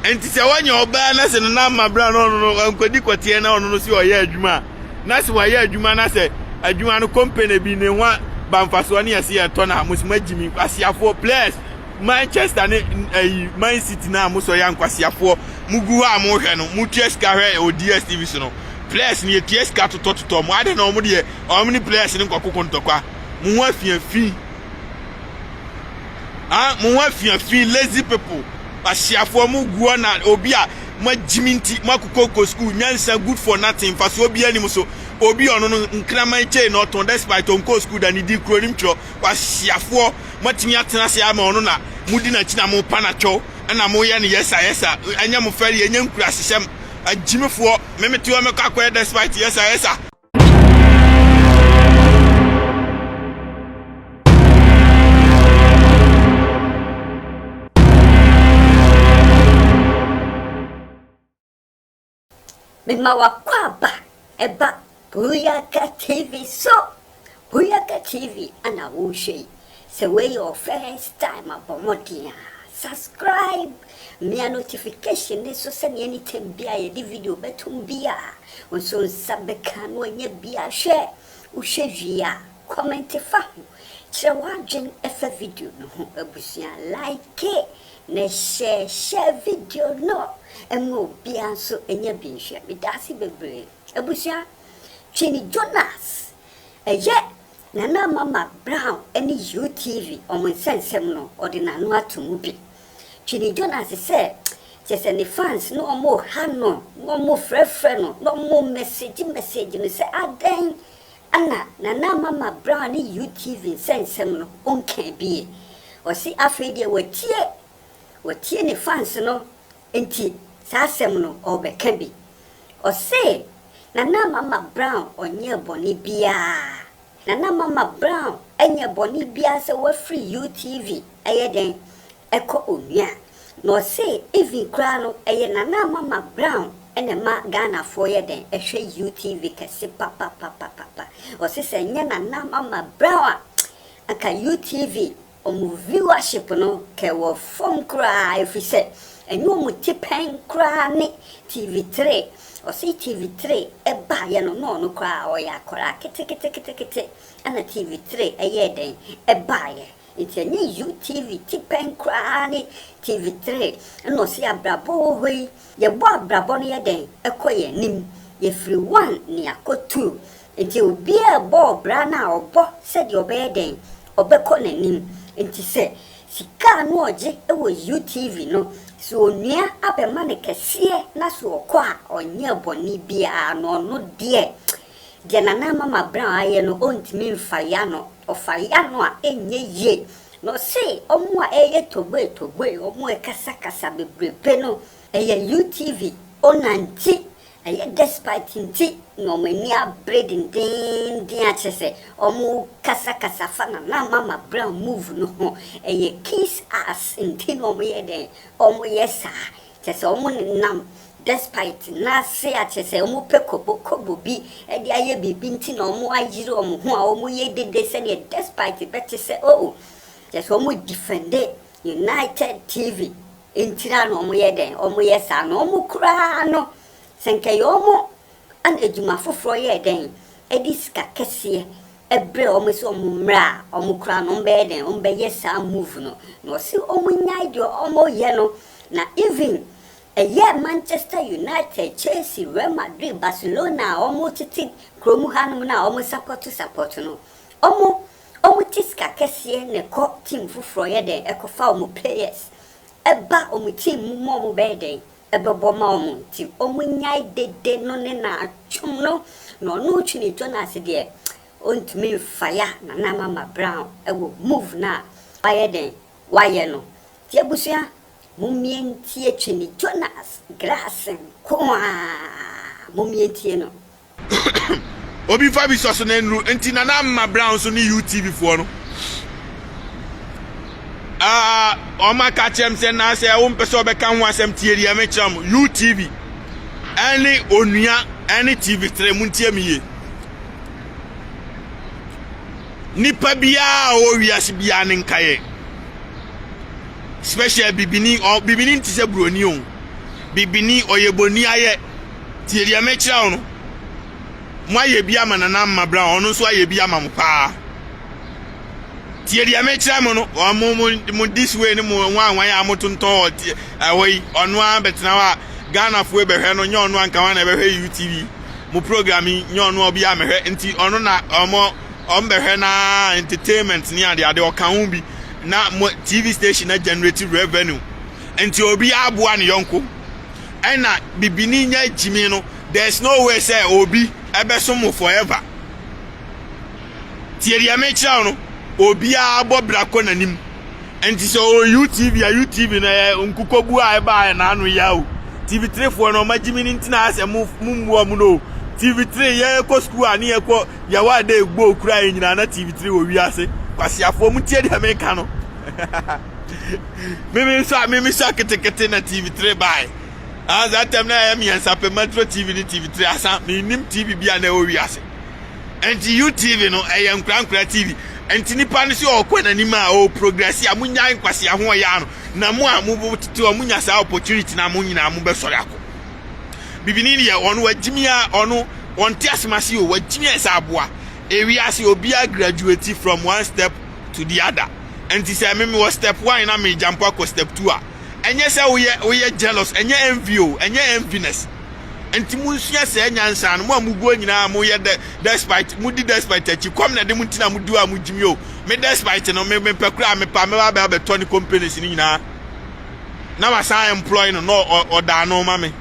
Enti sɛ wanya ɔbaa na se no nam ma bere a na ɔno no wankɔdi kɔteɛ na ɔno no se ɔyɛ adwuma a, na se wayɛ adwuma na sɛ adwuma no kɔmpene bi ne ho a ba mfasoɔ ne ɛse ɛtɔ no a, mo se moagye me nkwaseafoɔ players Manchester ne ayi Man City no a mo sɔ yɛ ankwasiafoɔ mo gu hɔ a mo hwɛ no mo tua sika hwɛ ɛwɔ DSTV so no players no yɛtua sika totɔ totɔ mo adɛn na wɔn deɛ wɔn ne players no nkɔkoko ntɔkwa mo ho afiafi Ah, mo ho afia fi lazy people. Ahyiafoɔ mo guɔ na obi a mo agyimi nti mo akokoko school nyansa good for nothing mfasoɔ bi anim so obi ɔno no nkraman kyei na ɔtɔn despite ɔnkɔɔ school da ne di kuro nim twerɛ wahyiafoɔ mo atumi atena ase ama ɔno na mo di n'akyi na mo pa na twɛw ɛna mo yɛ no yɛsa yɛsa ɛnyɛ mo fɛre ɛnyɛ nkura hyehyɛm agyimifoɔ memetewa mɛkɔ akɔyɛ despite yɛsa yɛsa Mema w'akwaaba ɛba Buyaka TV so. Boyaka TV na wo hwɛ yi, sɛ wei yɛ wo first time a bɔ mmɔden a subscribe, mia notification no so sɛdeɛ anytime biaa yɛde video bɛtom biaa wo nso nsa bɛka na wanya bi ahwɛ, wo hwɛ wie a comment fa ho kyerɛ w'adwen fa video no ho, abusua like na hyɛ share video no ma obiaa nso nya bi nhwɛ, medaase bebree abusua, Twene Jonas Ɛyɛ Nana Mama Brown ne UTV wɔn nsɛnsɛm no ɔde n'ano ato mu bi. Twini Jonas sɛ kyerɛ sɛ ne fans no wɔn reha no na wɔn refrɛfrɛ no na wɔn remɛsegye mɛsegye no sɛ adɛn na Nana Mama Brown ne UTV nsɛnsɛm no ɔnka bie. Ɔse afei deɛ watie, watie ne fans no Enti saa asɛm no ɔrebɛka bi. Ɔse, Nana Mama Brown ɔnyɛɛ bɔne biaa. Nana Mama Brown ɛnyɛ bɔne biaa sɛ wafiri UTV ɛyɛ dɛn ɛkɔ onua. Na ɔse even koraa no ɛyɛ Nana Mama Brown ɛna ɛma Ghanafoɔ yɛ dɛn ɛhwɛ UTV kɛse papapapapapa. Ɔse sɛ ɛnyɛ Nana Mama Brown a anka UTV Wɔn viewership no kɛ wɔ fam koraa efisɛ ɛnyɛ wɔn ti pɛn koraa ne TV three. Ɔse TV three baeɛ no na ɔno koraa ɔyɛ akwadaa keteketekete ɛna TV three yɛɛ dɛn baeɛ. Nti ɛnyɛ UTV ti pɛn koraa ne TV three ɛna ɔse abrabɔ wɔ hɔ yi yɛbɔ abrabɔ no yɛ dɛn ɛkɔ yɛn anim. Yɛfiri one ne akɔ two Enti obiara bɔɔ bra no a ɔbɔ sɛdeɛ ɔbɛyɛ dɛn, ɔbɛkɔ n'anim. Enti sɛ sika a na ɔgye wɔ UTV no, sɛ onua abɛma no kɛseɛ na sɛ ɔkɔ a ɔnyɛɛ bɔne biara no, ɔno deɛ, deɛ Nana Mama Brown ayɛ no, ɔntumi mfa ya no. Ɔfa ya no a, ɛnyɛ yie. Na ɔse wɔn a ɛreyɛ togboi togboi, wɔn rekasakasa bebrebe no, ɛyɛ UTV owner nti Ɛyɛ despite nti na wɔn ani abere dendeenden akyerɛ sɛ wɔrekasakasa fa Nana Mama Brown move no ho. Ɛyɛ kiss ass nti na wɔyɛ dɛn? Wɔyɛ saa. Kyerɛ sɛ wɔnenam despite na ase akyerɛ sɛ wɔpɛ kɔbɔkɔbɔ bi de ayɛ biribi nti na wɔayere wɔn ho a wɔyɛ dede sɛdeɛ despite bɛte sɛ oh. Kyerɛ sɛ wɔredefende United TV. Nkyira na wɔyɛ dɛn? Wɔyɛ saa na wɔn koraa no, sɛ nka ɛyɛ wɔn a na adwuma foforɔ yɛ dɛn? Ɛde sika kɛseɛ ɛbrɛ wɔn sɛ wɔn mmra a, wɔn koraa no wɔbɛyɛ dɛn? Wɔbɛyɛ saa move no. Na wɔse wɔnnyae deɛ wɔyɛ no. Na even ɛyɛ Manchester United, Chelsea, Real Madrid, Barcelona a wɔtete kurom hanom no a wɔsapɔto sapɔto no, wɔn Ɔmo te sika kɛseɛ na ɛkɔ team foforɔ yɛ dɛn ɛkɔfa ɔmo players ɛba ɔmo team mu ma ɔmo bɛyɛ dɛn ɛbɛbɔ ma ɔmo nti ɔmo nyae dede no ne naa twom no na ɔno Twene Jonas deɛ ɔntumi nfaya Nana Mama Brown ɛwɔ move no a wayɛ dɛn wayɛ no nti abusua mommie ntie Twene Jonas Grace nkoaa mommie ntie no. Obi mfa bi sɔ so na nnuru nti Nana Ama Brown nso ne UTV foɔ no. Ah, wɔn aka kyerɛ m sɛ na sɛ wompɛ sɛ wɔbɛka ho asɛm tie deɛ mekyerɛ m UTV ɛne onua ɛne TV tere mu ntie me yie. Nipa biara a ɔwɔ wiase biara ne nkaeɛ special bibini ɔ bibini nti sɛ buroni o bibini ɔyɛ boni ayɛ. Tie deɛ mekyerɛ wo no. Moayɛ bi ama Nana Amma Brown, ɔno nso ayɛ bi ama mo paa. Tie deɛ mekyerɛ mo no, mo, mo, mo this way ne mo nwanwan a motontɔn wɔ tie ɛhɔ yi, ɔno ara bɛtena hɔ a Ghanafoɔ bɛhwɛ no, nyɛ ɔno anka wa na ɛbɛhwɛ UTV. Mo program yi, nyɛ ɔno a obi a mɛhwɛ, nti ɔno na ɔmo, ɔmo bɛhwɛ na entertainment ne ade ade ɔka ho bi na mo TV station na generate revenue. Nti obi aboa ne yɔnko. Ɛna bibini nya gyimi no there's no way sɛ obi ɛbɛsom mo forever. Tie deɛ mekyerɛ wo no, obiara bɔ bra kɔ n'anim. Nti sɛ ɔwɔ UTV a UTV no ɛyɛ nkukoguo a ɛbaeɛ na ano yɛ o. TV3 foɔ no ɔma gyimi no nti na ayɛ sɛ mo mo mmu ɔmo no o. TV3 yɛkɔ school a ne yɛkɔ yɛwɔ a day ball kura yɛn nyinaa na TV3 wɔ wiase. Kwasiafoɔ mo tie deɛ meka no. Me me nso a me me sua ketekete na TV three bae. Ah, saa tɛm na ɛyɛ mmiɛnsa pɛ maturo TV ne TV three asa me nim TV bi a na ɛwɔ wiase. Nti UTV no ɛyɛ nkorankora TV. Nti nipa no so ɔkɔ n'anim a ɔwɔ progress a munya nkwasi ho ɔyɛ ano na mo a mo tete hɔ munya saa opportunity na mo nyinaa mo bɛsɔre akɔ. Bibini deɛ ɔno wagyimi a ɔno ɔnte asemase o wagyimi a ɛsɛ aboa. Ewiase obiara graduate from one step to the other. Ɛnti sɛ me mewɔ step one na me jump akɔ step two a ɛnyɛ sɛ woyɛ woyɛ jealous ɛnyɛ envy o ɛnyɛ enviness ɛnti mo nsua sɛ nyansa no mo a mo guo nyinaa mo yɛ de despite mo di despite akyi kɔm na de mo ntina mo duo a mo gyimi o me despite no me me pɛ kura me pa me ba bɛ abɛtɔ ne companies no nyinaa na wasan employ no na ɔdaa no ma me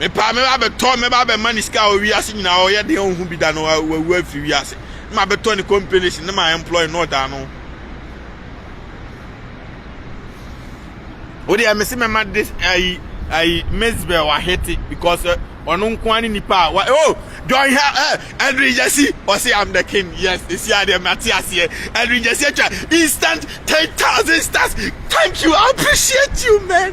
Mepaa mɛba abɛtɔ mɛba abɛma ne sika a ɔwɔ wiase nyinaa ɔyɛ den ɔnhu bi da no wawu afiri wiase ne ma bɛtɔ ne companies ne ma employ na ɔda ano. Wode ɛmɛ se mɛma de ayi ayi Mezbel ahete because eh, ɔno nko ara ne nipa a wa oh John ha eh, Edwin Jesse ɔse I'm the king yes esi adeɛ mate aseɛ Edwin Jesse atwa instant ten thousand stars thank you I appreciate you man.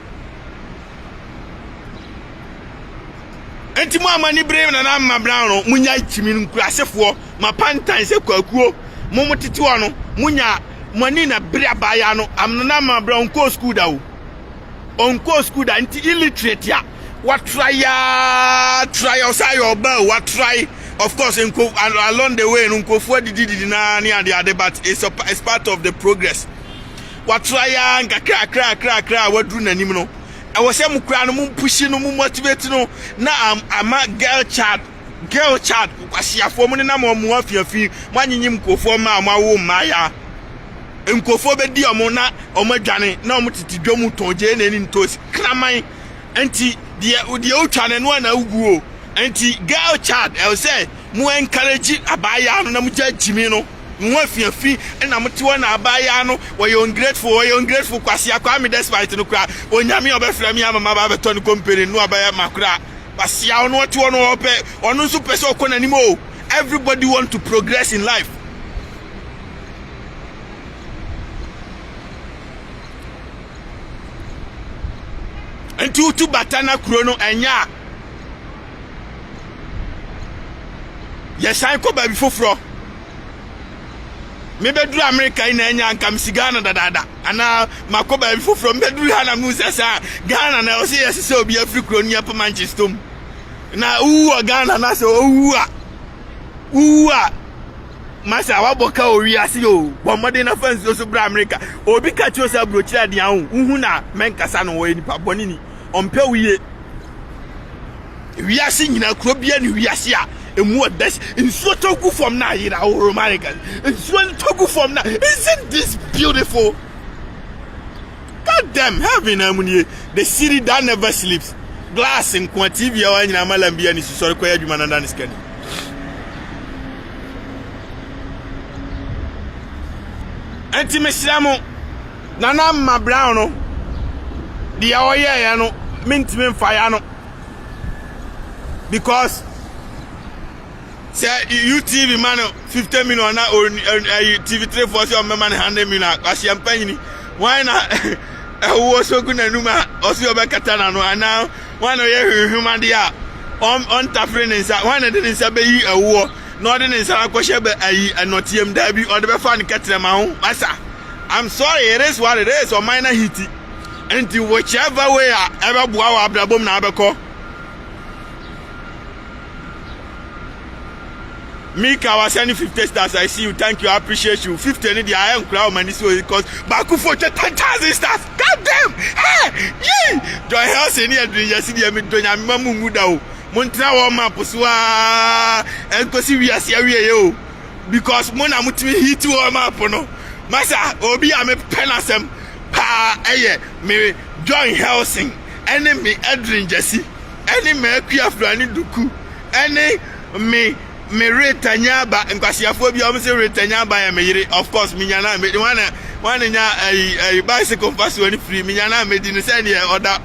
Enti mo a mo ani bere Nana Mmabran no, munya kyimi nkurasefoɔ, mo apantan sɛ kwakuo, mo mo tete hɔ no, munya mo ani na bere abaayaa no. Am Nana Mmabran ɔnkɔɔ sukuu da o. Ɔnkɔɔ sukuu da nti illiterate a watrae aa trae ɔsan yɛ ɔbaa o watrae of course nko along the way no nkurɔfoɔ adidididi naa ne adeade but it's, a, it's part of the progress. watra yi ara nkakrakrakrakra a waduru n'anim no, ɛwɔ sɛ mokura no, mompuhyi no, momotivate no na ama girl child girl child kwasiafoɔ mo nenam wɔn afiafi mo anyenyem nkurɔfoɔ mmaa mo awo mmaayaa nkurɔfoɔ bɛdi wɔn na wɔn adwane na wɔn tete dwa mu tɔn gyee n'ani ntosi kraman nti deɛ deɛ wotwa no ɛno a na awuguo nti girl child ɛwɔ sɛ mo encourage abaayaa no na mo gya gyimi no Mo ho afi afi na mote hɔ na abaayaa no wɔyɛ ungrateful wɔyɛ ungrateful kwasea kwame despite no koraa onyame ɔbɛfrɛ me ama maba abɛtɔ ne company no abɛyɛ ma koraa kwasea ɔno ɔte hɔ no ɔpɛ ɔno nso pɛ sɛ ɔkɔ n'anim o everybody want to progress in life nti wotu bata na kuro no ɛnyɛ a Yɛsan kɔ baabi foforɔ. Mebɛduru Amerika yi na ɛnyɛ anka mesi Ghana dadaada anaa makɔ baabi foforɔ mebɛduru ha na mu sɛ saa Ghana na ɛwɔ sɛ yɛse sɛ obi afiri kuro no yɛpɛ Manchester mu na wowu wɔ Ghana na sɛ wowu a wowu a masa wabɔ ka owi ase o bɔ mmɔden na fa nsuo so bra amerika obi ka kyerɛ sɛ aburokyerɛ adeɛ ho wohu na mɛnkasa no wɔyɛ nipa bɔne ni ɔmpɛ wo yie. Wiase nyinaa kuro biara ne wiase a emu yɛ best. Nsuo tɔ gu fam na ayera oh my god. Nsuo no tɔ gu fam na isn't this beautiful? God damn heaven na mu nie. The city that never sleeps. Glass nkoa TV a wanyina amalam bi ani sisɔre kɔyɛ adwuma na da ne sikani. Enti mesrɛ mo Nana Mma Brown no deɛ ɔyɛeɛ no mentumi mfa ya no because sɛ UTV ma no fifty million na ɛyi TV three four sɛ ɔmo bɛma no hundred million ahyia mpanyini wɔn na ɛwoɔ so gu n'anum a ɔsi ɔbɛkata n'ano anaa wɔn na ɔyɛ hwehwemadeɛ a ɔntafere ne nsa wɔn na de ne nsa bɛyi ɛwoɔ na ɔde ne nsa akɔhyɛ bɛ ayi ɛnɔteɛm daabi ɔde bɛfa ne kɛtɛrɛma ho masa I'm sorry it is what it is ɔman na hiti nti whichever way a ɛbɛboa wɔ abrabom na abɛkɔ Mika wasɛne 50 stars I see you thank you I appreciate you 50 ne deɛ ayɛ nkora wɔ m'ani so cause baako fo twɛ 10,000 stars god damn hey yee John Helsen ne adwene yɛsi deɛ medɔ nyame ma mu ngu da o montena wɔ map so a ɛnkɔsi wiase awieɛ o because mo na motumi hiti wɔn ma po no masa obi a mepɛ n'asɛm paa ɛyɛ me john helson ɛne me edrin gyasi ɛne m'akui afurani duku ɛne me me reta nyaaba nkwaseafoɔ bi a wɔn sɛ reta nyaaba yɛ me yere of course menya na medi wɔn na wɔn na nya ɛyi ɛyi bicycle nfa soɔ ne firi menya na medi no sɛ ɛneɛ ɔda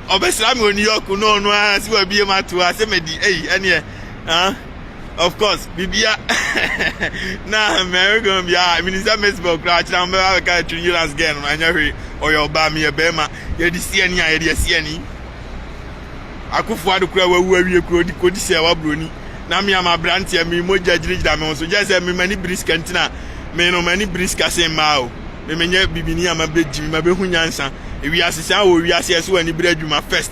ɔbɛsra me wɔ new york no ɔno ara si wɔ abie mu ato ase medi ɛyi ɛneɛ ah. of course bibia na mary gan bia minister mesbel kura akyerɛ ahomɛ ba bɛka atwi insurance girl no anyɛ hwee ɔyɛ ɔbaa meyɛ bɛrima yɛde si ani a yɛde asi ani akofo ado kura wawu awie kuro di kodi sɛ waburoni na me ama aberanteɛ me mogya gyinagyina me ho so gyɛ sɛ me mani biri sika nti na me no mani biri sika se mmaa o me menyɛ bibini ama bɛgyi me ma bɛhu nyansa ewiase sɛ a wɔ wiase ɛso wɔ ani biri adwuma first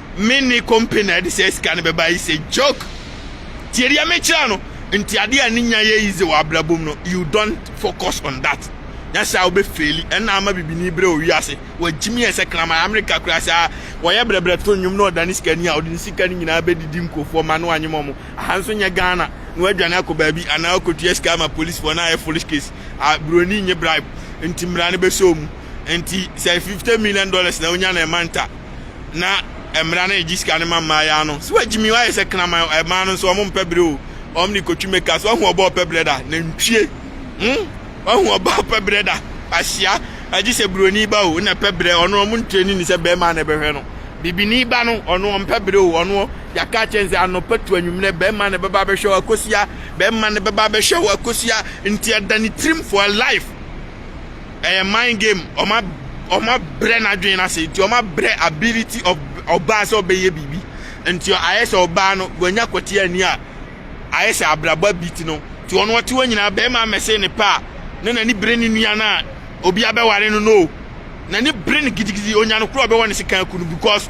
me ne kompe na ɛde saa sika no bɛba is a joke tie deɛ mekyerɛ no nti adeɛ a ne nya yɛ yize wɔ abrabom no you don't focus on that nyɛ sɛ a wobɛfeeli ɛna ama bibini berɛ owi ase wagyimi ɛ sɛ kraman amerika koraa saa wɔyɛ brɛbrɛ to nnwom na ɔda ne sika ni a ɔde ne sika no nyinaa bɛdidi nkurɔfoɔ ma no anyem ɔmo aha nso nyɛ ghana na wadwane akɔ baabi anaa ɔkɔtua sika ama policefoɔ na ayɛ foolish case a buroni nye bribe nti mmara no bɛsɛ ɔmu nti sɛ 50 million dollars na wonya na ɛma nta na mmara no egye sika no ma mmaayɛ no so agye mi ayɛ sɛ kraman ɛmaa no nso wɔn mpɛ bere o wɔn ne kotwi meka so ahu ɔbɔ ɔpɛ brɛ da nantwie hmm ahu ɔbɔ ɔpɛ brɛ da ahyia agye sɛ buroni ba o na ɛpɛ brɛ ɔno wɔn ntrɛni ne sɛ bɛrima na ɛbɛhwɛ no bibini ba no ɔno wɔn mpɛ brɛ o ɔno yɛaka kyɛn sɛ anɔpa tu anwummerɛ bɛrima na ɛbɛba abɛhwɛ wɔ akosia bɛrima na ɛbɛba abɛhwɛ wɔ akosia nti ɛda ne tirim for life Ɛyɛ mind game, ɔma ɔma brɛ n'adwene no ase, nti ɔma brɛ ability of ɔbaa sɛ ɔbɛyɛ biribi. Nti ayɛ sɛ ɔbaa no wanya kwati ani a ayɛ sɛ abrabɔ abiti no. Nti ɔno ɔte hɔ nyinaa bɛrima mɛsee ne pɛ a na n'ani bere ne nua no a obi abɛware no no o. N'ani bere no gidigidi, onya no koro a ɔbɛwɔ ne sekan aku no because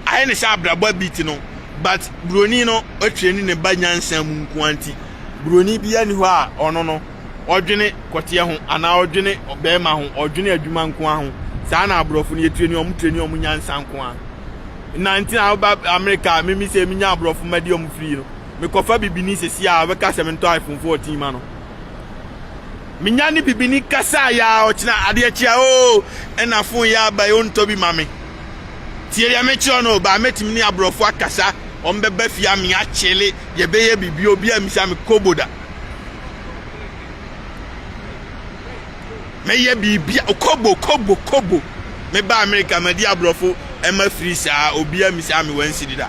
ayɛ ne sɛ abrabɔ abiti no. But buroni no atreni ne ba nyansa mu nko ara nti buroni biara ni hɔ a ɔno no ɔdwene kɔteɛ ho anaa ɔdwene bɛrima ho ɔdwene adwuma nko ara ho saa na aborɔfo no yɛtireni ɔmo tireni ɔmo nyansa nko ara na nti na woba amerika mimi sɛ menya aborɔfo ma di ɔmo firi no mekɔfa bibini sɛsi a ɔbɛka sɛ mentɔ iphone 14 ma no menya ne bibini kasa yɛ a ɔkyena adeɛ kye a oo ɛna fon yɛ aba yɛ ɔntɔ bi ma me tie deɛ mekyerɛ no baa mɛtumi ne aborɔfo akasa ɔmo bɛba fie a meakyele yɛbɛyɛ biribi obi a misa me kobo da mɛyɛ biribia okobo kobo kobo meba amerika madi aborɔfo ɛma firi saa obia misi a mewɔ nsiri da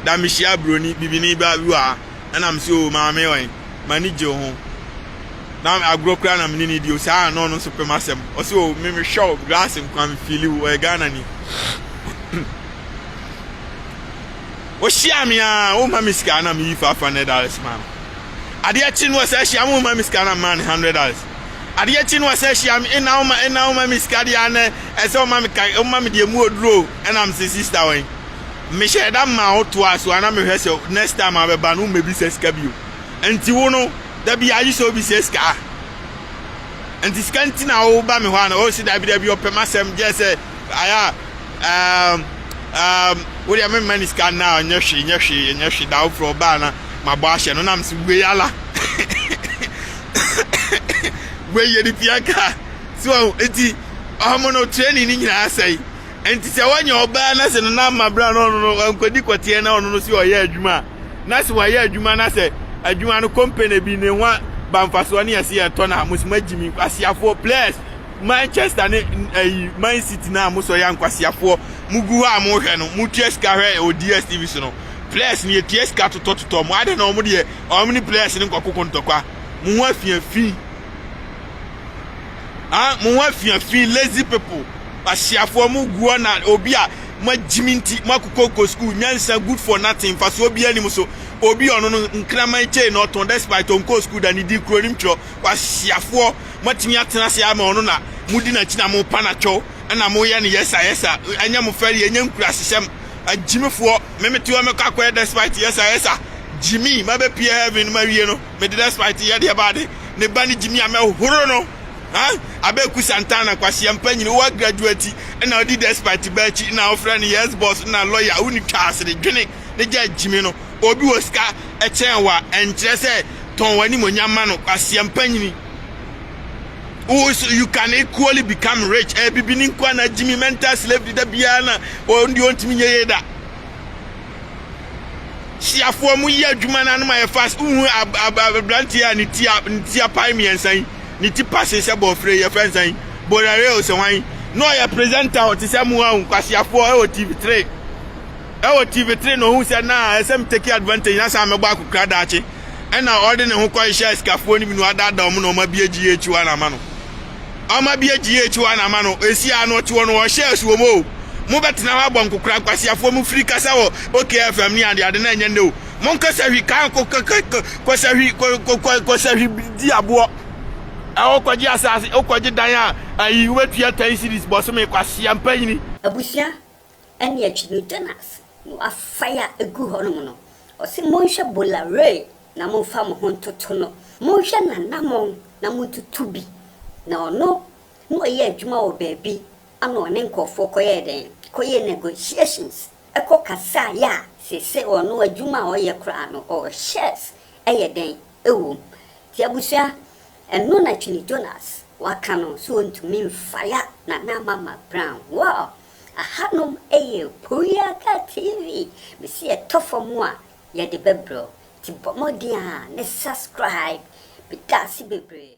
da mehyia buroni bibini ba bi wɔ ha ɛna mesi o maame wɔn m'ani gye ho na agorɔ kura na mene ne di o saa na ɔno nso pɛ m'asɛm ɔsi o me mehwɛ o glass nkwa mefili o ɔyɛ ghana ni Wohyia me a, woma me sika na meyi five hundred dollars ma no. Adeɛ kye no wɔsɛ hyia me woma me sika na mmaa no hundred dollars. Adeɛ kye no wɔsɛ hyia me ɛna woma ɛna woma me sika deɛ anɛ ɛsɛ woma me ka woma me deɛ mu oduro ɛna me sɛ sista wɔn. Mehyɛ ɛda mmaa wo toa so ana mehwɛ sɛ next time abɛba no womɛbisa sika bio. Nti wo no da bi agye sɛ obi sɛ sika. Nti sika nti na woba me hɔ ana ɔsi dabi dabi ɔpɛ m'asɛm gyɛ sɛ ayɛ a Ɛɛm ɛɛm wo deɛ memma ne sika nna a nyɛ hwee nyɛ hwee nyɛ hwee da woforɔ ɔbaa na mabɔ ahyɛ no na mese wei ala wei yɛ ne pia ka so ɔho nti ɔmo no training ne nyinaa sɛe nti sɛ woanya ɔbaa na sɛ no na ama bra na ɔno no nkɔdi kɔteɛ na ɔno no sɛ ɔyɛ adwuma a na sɛ wayɛ adwuma na sɛ adwuma no company bi ne ho a bamfasoɔ ne yɛse yɛtɔ no a mosoma gyimi nkwaseafoɔ players Manchester ne ɛyi Man City no a mosɔ yɛ ankwaseafoɔ mogu hɔ a mohwɛ no motua sika hwɛ wɔ DSTV so no players no yɛtua sika totɔtotɔ mo adɛn na wɔn deɛ wɔn ne players no nkɔkoko ntɔkwa mo ho afiafi ah mo ho afiafi lazy people ahyiafoɔ mo gu hɔ na obi a magyimi nti moakokɔkɔ school nyansa good for nothing mfasoɔ bi anim so obi ɔno no nkraman kyei na ɔtɔn despite ɔnkɔɔ school da ne di kuro nim twerɛ kwaseafoɔ moatumi atena ase ama ɔno na modi n'akyi na mopa n'akyɛw ɛna moyɛ no yɛsa yɛsa ɛnyɛ mo fɛre ɛnyɛ nkurasehyɛm agyimefoɔ memete hɔ mɛkɔ akɔyɛ despite yɛsa yɛsa gyimi mabɛpie heaven no mawie no mede despite yɛdeɛ baade ne ba ne gyimi a mɛhoro no ha abɛku santana kwaseɛ mpa nyini wowa graduate ɛna ɔdi despite ba akyi na ɔfrɛ no yes boss na lawyer wone twa asere dwene ne gya gyimi no, obi wɔ sika kyɛn wo a, ɛnkyerɛ sɛ tɔn w'animuonyam ma no. Kwaseɛmpa nyini. Wo so you can equally become rich. Ɛyɛ bibi ne nkoa na gyimi mental slavery da biara na wɔn deɛ ɔntumi nyɛ yie da. Hyiafoɔ mo yɛ adwuma no anom ayɛ fast. Wohu abranteɛ a ne ti a ne ti apae mmiɛnsa yi, ne ti pase sɛ bɔɔfire yɛ fɛnsa yi, Borareo sɛ hwan yi. Na ɔyɛ presenter ɔte sɛ mo a nkwaseafoɔ ɛwɔ TV three. Wɔ TV three no ohun sɛ na ɛsɛ me take advantage na san mɛbɔ akokora daakye. Ɛna ɔde ne ho kɔhyehyɛ asikafoɔ no bi na wadaadaa wɔn na wɔn abue GH one ama no. Wɔn abue GH one ama no, esi a na ɔte hɔ no ɔhyɛ asuom o. Mo bɛtena hɔ abɔ nkokora nkwaseafoɔ mo firi kasa wɔ OK FM ne ade ade na ɛnyɛ nnɛ o. Mo nkɔ sahwi kan kɔ kɔ kɔ kɔ kɔ sahwi kɔ kɔ kɔ kɔ sahwi di aboɔ. Ɛhɔ kɔgye asaase wokɔgye dan a ayi wobɛtua ten series bɔsome kwasea mpanyini. Abusua ɛne akyi no Jonas no afae a egu hɔnom no, ɔse monhwɛ Boulaware na momfa mo ho ntoto no, monhwɛ n'anamɔn na montutu bi, na ɔno na ɔyɛ adwuma wɔ baabi ana ɔne nkorɔfoɔ kɔyɛɛ dɛn? kɔyɛɛ negotiations ɛkɔ kasaeɛ a seesei ɔno adwuma a ɔyɛ koraa no ɔwɔ shares ɛyɛ dɛn? ɛwɔ mu. Nti abusua ɛno na Twene Jonas waka no sɛ ɔntumi mfaya Nana Mama Brown, wow! Ahanom yɛ Korea ka TV me se yɛtɔ fam a yɛde bɛbrɛ wo nti bɔ mmɔden a ne subscribe meda ase bebree.